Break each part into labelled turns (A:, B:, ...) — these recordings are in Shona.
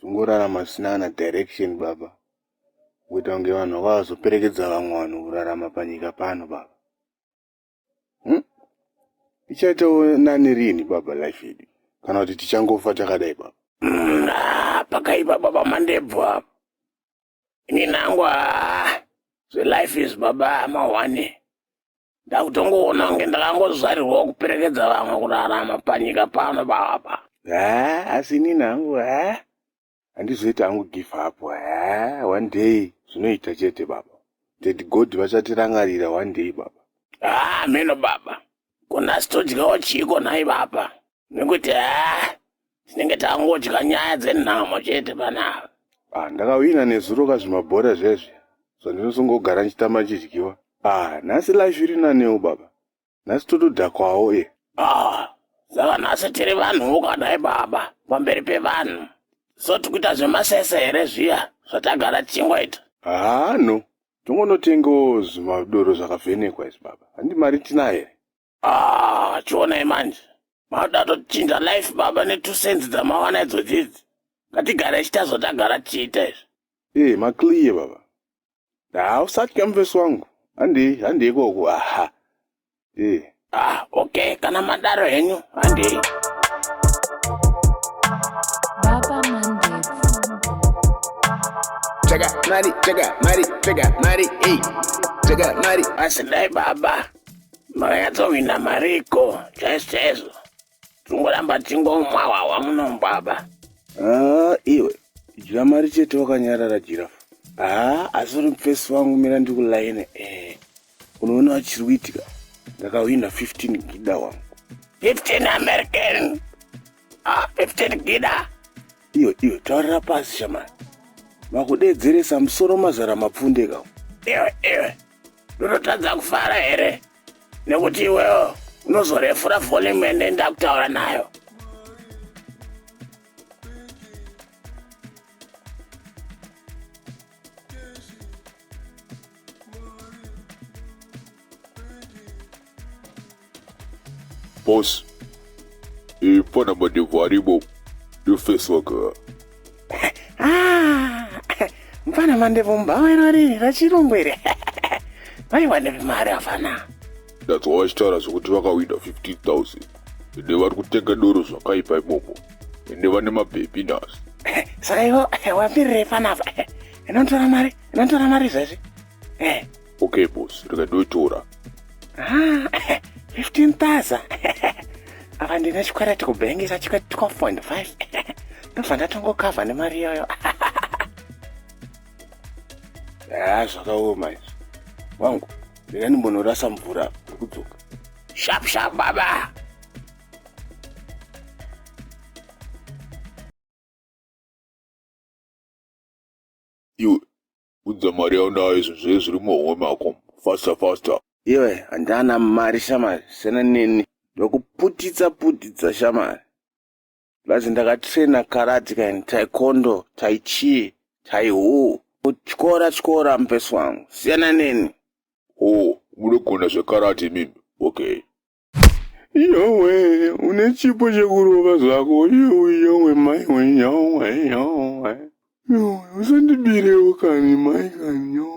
A: Tongorarama zvisina kana direction baba. Kuita kunge vanhu vakazoperekedza vamwe vanhu kurarama panyika pano baba. Hmm? Ichaitawo nani rini baba life yedu? Kana kuti tichangofa takadai baba? Hmm, ah,
B: pakaipa baba mandebvu apa. inini hangu haa zvelife is baba amahwane ndakutongoona kunge ndakangozvarirwawo kuperekedza vamwe kurarama panyika pano baba haa asi
A: inini hangu haa handizoiti hangu give up haa one day zvinoita chete baba that god vachatirangarira one day baba haa mheno baba
B: kona sitodyawo chiiko nhai baba nekuti haa tinenge tangodya nyaya dzenhamo chete panapa ah, ndakawina
A: nezuro kazvimabhora zvezvi so ndinosongogara ndichitamba ndichidyiwa ah, nhasi life iri nanewo baba nhasi totodhakwawo e ah,
B: saka nhasi tiri vanhu ukadai baba pamberi pevanhu so tikuita zvemasese here zviya zvatagara tichingoita haa no
A: tongonotengawo zvimadoro zvakavhenekwa izvi baba handi mari tinayo here ah
B: chionai manje mauda tochinja life baba netwo sense dzamawana idzo dzidzi ngatigara ichita zvotagara tichiita izvi ee eh, maclear baba
A: hausatya mufesi wangu handei handei koko aha ee eh. ah
B: okay kana madaro henyu handei Check
C: out, Mari,
B: check out, Mari, check out, Mari, hey. Check out, Mari. I said, hey, Baba. Makanyatsohwina mariko chaizvo chaizvo. Tungoramba tingomwa hwahwa muno baba. Haa
A: iwe dya mari chete wakanyarara jirafu. Haa asi uri mufesi wangu mira ndikulaine eh. Unoona wachiri kuitika ndakahwina 15 gida wangu. 15
B: American. Ah, 15 gida. Iwe iwe
A: taurira pasi shamani. Makudeedzeresa musoro mazara mapfundeka. Iwe iwe
B: ndinotadza kufara here nekuti iwewo unozorefura volume ende ndakutaura nayo
D: Boss, eh, pana mandevu arimo. Your face work. Ah,
B: mfana mandevu mbawa iro riri rachirungu iri. Vaiwane mari afana. That's why vachitaura
D: zvekuti vakawina 15,000. Ende vari kutenga doro zvakaipa imomo. Ende vane mabhebhi nhasi. Saka ivo
B: wapirirei panapa? Inotora mari, inotora mari zvazvi. Eh.
D: Okay boss, rega ndoitora.
B: Ah, 15,000. Apa ndine chikwereti kubhengi chachikwereti 12.5. Ndobva ndatongokavha nemari iyoyo.
A: Ah, zvakaoma izvi. Wangu, rega ndimbonorasa mvura apa, ndiri kudzoka. Sharp sharp
B: baba.
D: Iwe Unza mari yaunayo izvo zviye zviri muhomwe mako. Faster faster. Iwe
A: handana mari shamari siyana neni ndokuputitsa putitsa shamari plus ndakatraina karate kaini taikondo taichii taihu kutyora tyora mupesi wangu siyana neni oh
D: munogona zvekarate imimi okay Yowe,
A: une chipo chekurova zvako. Yowe, yowe, mai we, yowe, yowe. Yowe, usandibirewo kani, mai kani, yowe.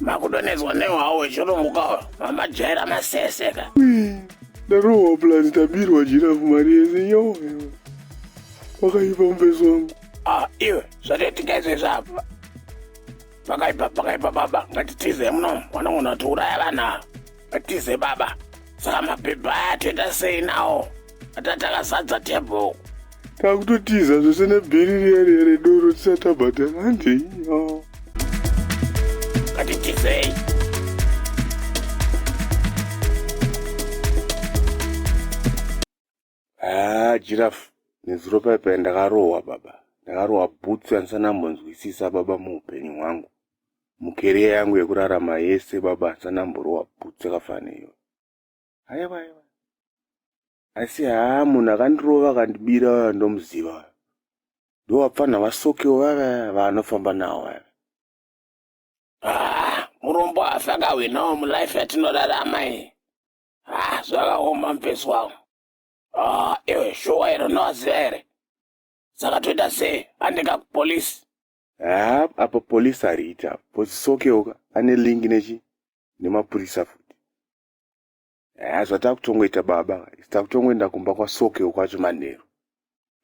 B: makudonhedzwa nehwawo wechirungu kawo mamajaira maseseka ndarohwa
A: plus ndabirwa jirafu mari yese yo pakaipa mubeso wangu ah, iwe
B: zvatoitika izvezvi apa pakaipa pakaipa baba ngatitize muno wanongona kuti uraya vana Tize baba, saka mapepa aya toita sei nawo? Ata takazadza table. Takutotiza
A: zvese nebhiri riya riya redoro tisati tabhadhara handei. Oh. Ngatitizei. Haa Giraffe nezuro paye paye ndakarohwa baba. Ndakarohwa bhutsu yandisana mbonzwisisa baba muupenyu hwangu. Mukeria yangu yekurarama yese baba ndisana mborohwa bhutsu yakafana iyo. Aiwa aiwa. Asi haa munhu akandirova akandibira waya ndomuziva. Ndowapfana vasokewo vaya vanofamba nawo vaya. Ah, murombo afa akahwinawo mulife yatinorarama iyi. ah, zvakaoma mfesi wangu ah, iwe shuwa here unovaziva here saka toita sei andika kupolisi haa apa polisi hariiti apa pozisokeuka ane lingi nechi nemapurisa futi haa zvatakutongoita baba isi takutongoenda kumba kwasokeu kwacho manheru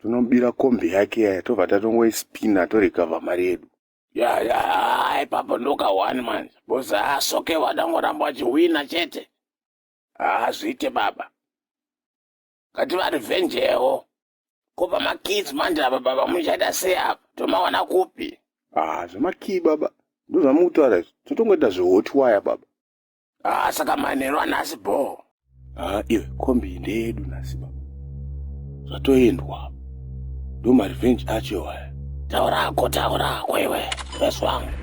A: tonobira kombi yake yaya tobva tatongoispina torecover mari yedu ya ya ah, ipapo ndokawani manje bhozi asoke vadangoramba vachihwina chete hazviite baba ngati varivenjewo ko pamakids manje apa baba muchaita sei apa tomawana kupi ah zvemakii baba ndozvamukutaura izvi totongoita zvehot waya baba Ah, saka manheru anhasi bhoo. Ah, iwe kombi ndeyedu nhasi baba. Zvatoendwa. Ndo ma revenge acho aya. Taura hako, taura hako iwe. Yes wangu.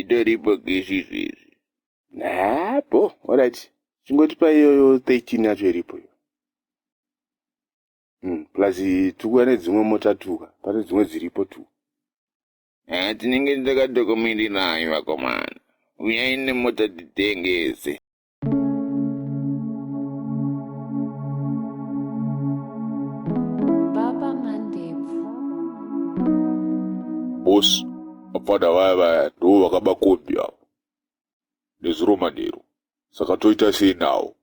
A: itoripo gesi izvezvi haa bho orit chingoti paiyoyo 13 yacho iripo iyo hmm, plus tukuya nedzimwe mota tuka pane dzimwe dziripo tu haa tinenge takadokomirirayo vakomana uyai nemota titengese
D: boss vapfana vaya vaya ndivo vakaba kombi avo nezuro manheru saka toita sei nawo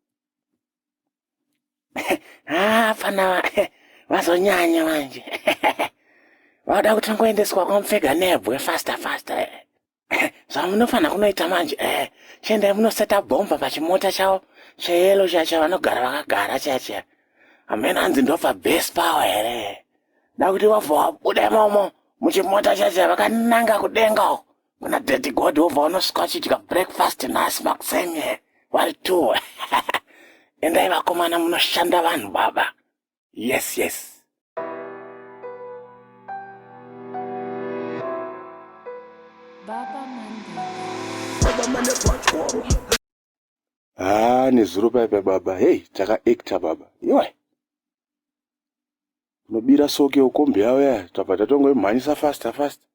A: haa pfana vazonyanya manje vanoda kuti ngoendeswa kwamupfega nebwe faster faster Eh, zvamunofanira kunoita manje eh, chiendai munoseta bhomba pachimota chavo cheyelo chiya chavanogara vakagara chiya chiya hamena hanzi ndobva base power here da kuti wabva wabuda imomo muchimota chiya chiya vakananga kudenga uko kuna daddy god wobva unosvika uchidya breakfast nhasi makuseni vari two endai vakomana munoshanda vanhu baba yes yes
B: haa ah,
A: nezuro paipa baba hei takaekta baba iwe unobira soke ukombi yavo yaya tabva tatongoimhanyisa fasta fasta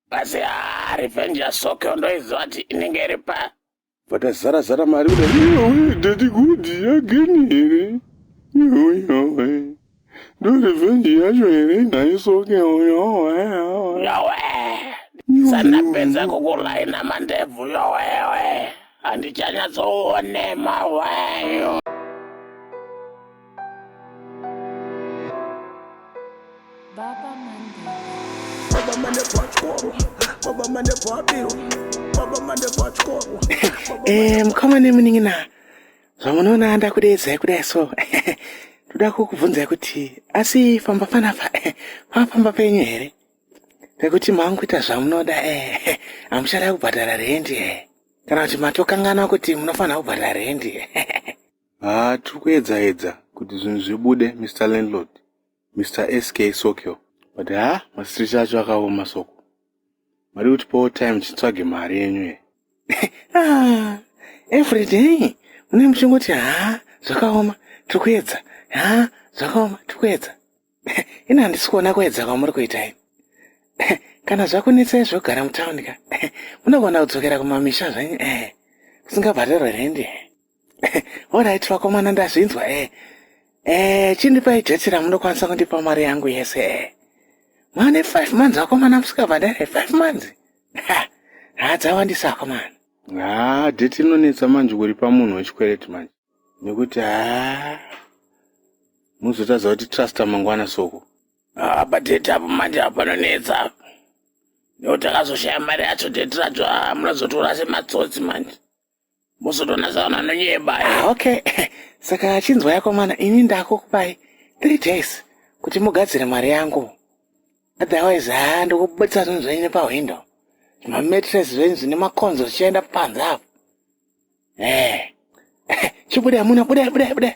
A: Basi ah, revenge ya Sokyo ndoiziva kuti inenge iri pa. Vakazara zara mari kuda. Iwe daddy good again here? Iwe iwe. Ndo revenge yacho here nayo Sokyo yo. eh, Yowe. Sandapedza kukulaina mandebvu yowewe. Handichanyatsoone mawayo.
B: Eh, mukoma
A: nemunin'ina zvamunoona anda kudeedzai kudai so ndoda kukubvunzai kuti asi famba panafa pafamba penyu here pekuti manguita zvamunoda eh hamuchada kubhadhara rendi eh kana kuti matokanganwa kuti munofanira kubhadhara rendi eh Haa tiri kuedza edza kuti zvinhu zvibude Mister Landlord, Mister SK Sokyo. But haa ma streets acho akaoma Soko. Mari kuti pawo time chitsvage mari yenyu here. Haa everyday mune muchingoti haa zvakaoma tiri kuedza haa zvakaoma tiri kuedza. Ini handisi kuona kuedza kwamuri kuita ini. Kana zvakunetsai zvogara mutown ka munogona kudzokera kumamisha zvenyu eh kusingabhadharwe rent eh. Alright vakomana ndazvinzwa eh. Eh, chindipai jeti ramunokwanisa kundipa mari yangu yese eh. Mane 5 months vakomana musikabhadhare 5 months. Ha, hadzawandisa vakomana. Ah, date inonetsa manje kuripa munhu wechikwereti manje. Nekuti ah muzotadza kuti trust mangwana soko. Ah, but date
B: apo manje apanonetsa apo. Nekuti akazoshaya mari yacho date racho ah, munozotora sematsotsi manje. muzotonatsaona anonyeba ah, okay
A: saka achinzwa yako mwana ini ndakukupai three days kuti mugadzire mari yangu otherwise haa ndokubudisa zvinhu zvenyu nepahwindo zvimamatres zvenyu zvine makonzo zvichienda panze apo e eh. chibuda muna budai budai budai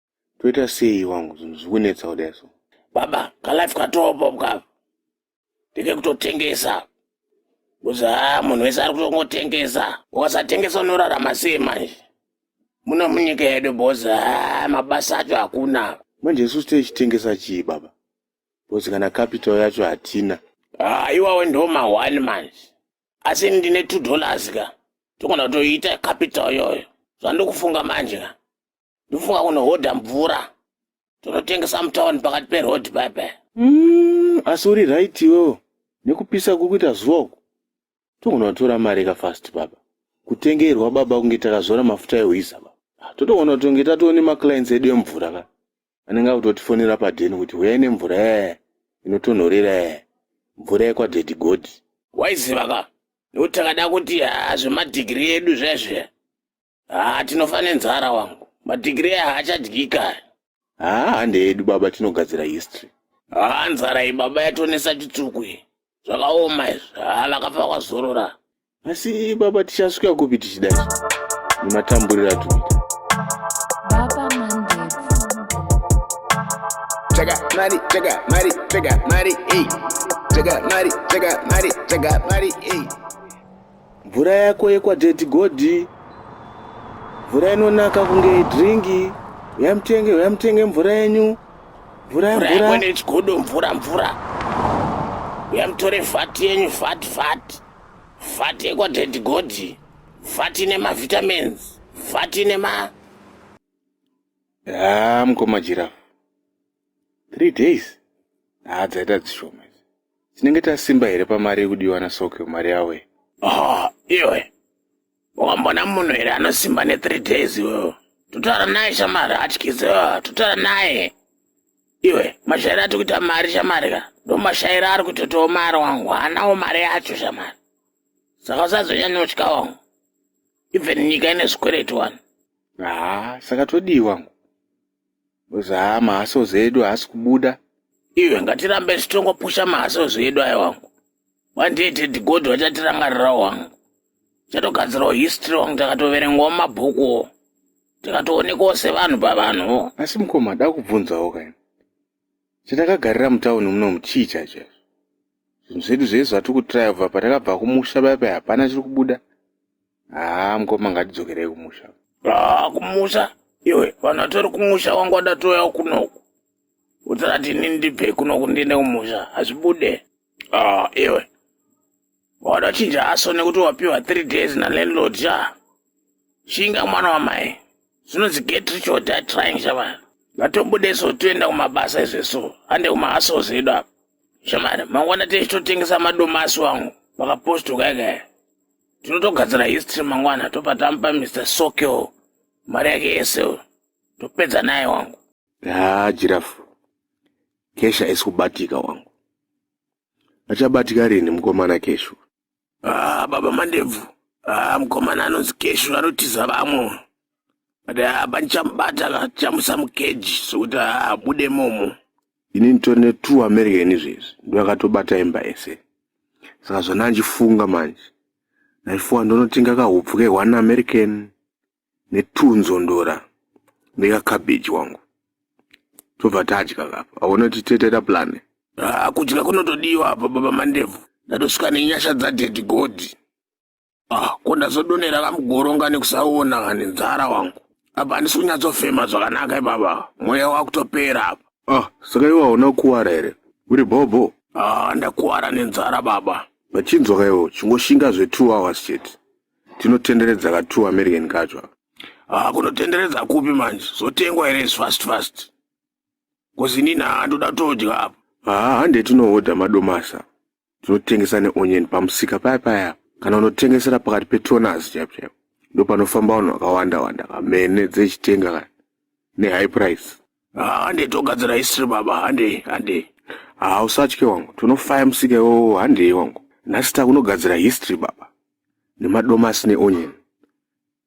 A: toita sei wangu zvinhu zvikunetsa kudai so baba kalife
B: katopo mukava ndeke kutotengesa kuzi haa ah, munhu wese ari kutongotengesa ukasatengesa unorarama sei manje muno munyika yedu bhozi haa ah, mabasa acho hakuna manje isusu
A: teichitengesa chii baba bhozi kana capital yacho hatina haa ah, iwawe ndo
B: mahwani manje asi ndine two dollars ka togona kutoiita capital yoyo zvandikufunga manje ka ndofunga kunohodha mvura tonotengesa mutown pakati peroad bebe mm,
A: asi uri right iwewo nekupisa kuri kuita zuva uku togona kutora mari ka fast baba kutengerwa baba kunge takazora mafuta ehwiza baba ah, totogona kutonge tatoone maclients edu emvura ka anenge akutotifonera padheni kuti huyai nemvura ee inotonhorera ee mvura yekwadhedhi godhi waiziva ka
B: nekuti takada kuti hazvemadhigiri edu zvezve haa tinofa nenzara wangu madhigiri aya haachadyika haa hande
A: edu baba tinogadzira history haa nzara
B: iyi baba yatonesa chitsvuku iyi zvakaoma izvi haa vakafa kwazorora asi
A: baba tichasvika kupi tichida izvi nematamburira tuita
C: Jaga,
B: Mari, Jaga, Mari, Jaga, Mari, hey. Jaga, Mari, Jaga, Mari, Jaga, Mari, hey.
A: Mvura yako yekwa Daddy Godi. Mvura inonaka kunge dringi. Uya mutenge, uya mutenge mvura yenyu. Mvura Mvura yemvura. yako nechigodo
B: mvura mvura. Uya mutore vhati yenyu vhati vhati. Vhati yekwa Daddy Godi. Vhati ine mavitamins. Vhati ine ma... Haa
A: mkoma Giraffe. 3 days haa dzaita dzishoma idzi tinenge tasimba here pamari yekudiwa nasokyo mari yawo iyi oh iwe
B: wambona munhu here anosimba ne3 days iwewo totaura naye shamari hatyise totaura naye iwe mashairi ati kuita mari shamari ka ndomashairi ari kutotawo mari wangu haanawo mari yacho shamari saka usazonyanyotya wangu even nyika ine zvikwereti wani haa
A: saka todii wangu Because haa mahasozi edu haasi kubuda. Iwe ngatirambe
B: tichitongopusha mahasozi edu aya wangu. One day Teddy God vachatirangarirawo wangu. Chatogadzirawo history wangu takatoverengwawo mumabhukuwo. Tikatoonekwawo sevanhu pavanhuwo. Asi mukoma
A: dakubvunzawo kaini. Chatakagarira mutown munomu chii chacho izvo? Zvinhu zvedu zvese zvatiri kutraya kubva patakabva kumusha paya paya hapana chiri kubuda. haa mukoma ngatidzokerei kumusha haa kumusha
B: iwe vanhu vatori kumusha wangu wadatouyawo kunoku utsati ini ndibve kunoku ndiende kumusha hazvibude haa iwe wadachinja aso nekuti wapiwa three days nalandlord sha shinga mwana wamai zvinonzi get rich or die trying shavana ngatombudeso toenda kumabasa izveso ande kumaasos edu apa shamari mangwana tichitotengesa madomasi wangu pakapostokaikaya tinotogadzira history mangwana topa tamupa mr sokyo mari yake yese uyo topedza naye wangu haa jirafu
A: kesha isi kubatika wangu achabatika rini mukomana keshu ah, baba
B: mandebvu ah, mukomana anonzi keshu anotiza vamwe but ah, panichamubata chamusa mukeji sokuti abude ah, momo ini nditori ne
A: two american izvezvi ndoakatobata imba ese saka zvandandichifunga manje ndaifuwa ndonotenga kahupfu ke one american ne two nzondora nekacabbage wangu tobva tadya kapa aona kuti tetera plane ah, kudya
B: kunotodiwa apa baba mandebvu ndatosvika nenyasha dzadedi godi Ah, ko ndazodonera kamugoronga nekusaona kani nzara wangu apa handisi kunyatsofema zvakanaka ibaba mweya wakutopera apa ah
A: saka iwe hauna kukuwara here uri bhobho ah ndakuwara
B: nenzara baba vachinzwa kaiwo
A: chingoshinga zve two hours chete tinotenderedza ka two american kacho aka ah kunotenderedza
B: kupi manje zotengwa here is fast fast kozinini ah ndoda todya apa haa hande tinohodha
A: madomasa tinotengesa neonion pamusika paya paya kana unotengesera pakati petoners chaipo chaipo ndo panofamba vanhu vakawanda wanda kamene dzechitenga ka nehigh price hande ah,
B: togadzira history baba hande hande hausatye
A: ah, wangu tinofaya musika iwowo handei wangu nhasi takunogadzira history baba nemadomasi neonion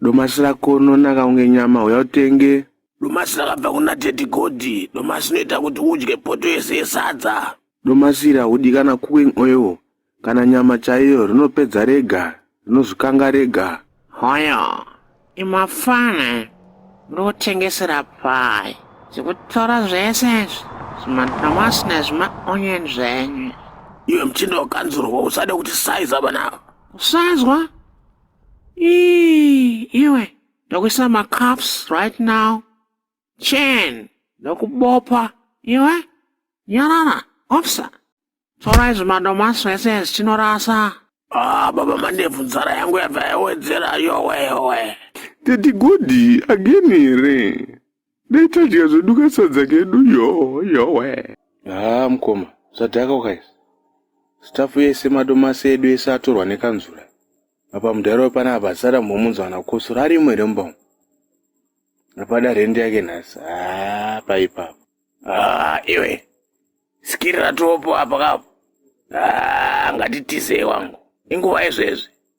A: Domasi rako rinonaka kunge nyama, huya utenge. Domasi rakabva
B: kuna Teddy Godi. Domasi inoita kuti udye poto yese yesadza. Domasi iri haudi
A: kana cooking oil kana nyama chaiyo, rinopedza rega, rinozvikanga rega. Hoyo,
E: imafana, muri kutengesera pai? Zvekutora zvese izvi, zvimadomasi nezvimaonion zvenyu. Iwe mchinda
B: wakanzurwa, usade kuti saiza vanava. Kusazwa?
E: Ii, iwe ndokuisa macups right now chen ndokubopa iwe nyarara ofsa torai zvimadomasi zvese zvichinorasa Ah, baba
B: mandevu nzara yangu yabva yawedzera yowe yowe. Tete
A: Godi again here? Dai tadya zvedu kasadza kedu yoo yowe. Haa mkoma zvadhaka ukaizi. Staff yese madomasi edu ese atorwa nekanzura. Apa mudhara wepana habasara mhomunzwa kana kukosora arimo here mumba umu. Apada rent yake nhasi. Haa paipapo. Haa
B: iwe. Sikirira topo apa kapo. Haa ngatitizei wangu. Inguva yezvezvi.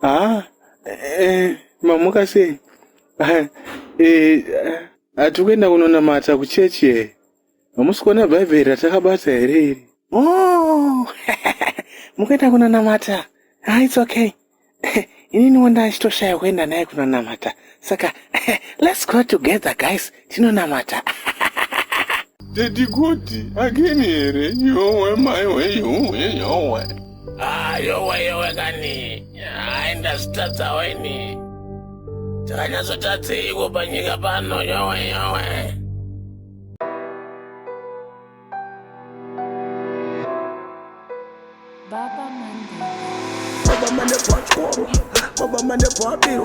A: haa eh, mamuka sei Ah, eh, hati kuenda kunonamata kuchechi here hamusi kuona bhaibheri ratakabata here iri oh mukuenda kunonamata ah, its okay ininiwo ndachitoshaya kuenda naye kunonamata saka let's go together guys tinonamata teti kuti akini here yowe maiwe yowe yowe ah, yowe
B: yowe kani aenda zitadzawo ini takanyatsotadziiko panyika pano yowe yowe Baba mane
C: pachikoro,
B: baba mane
C: pabiro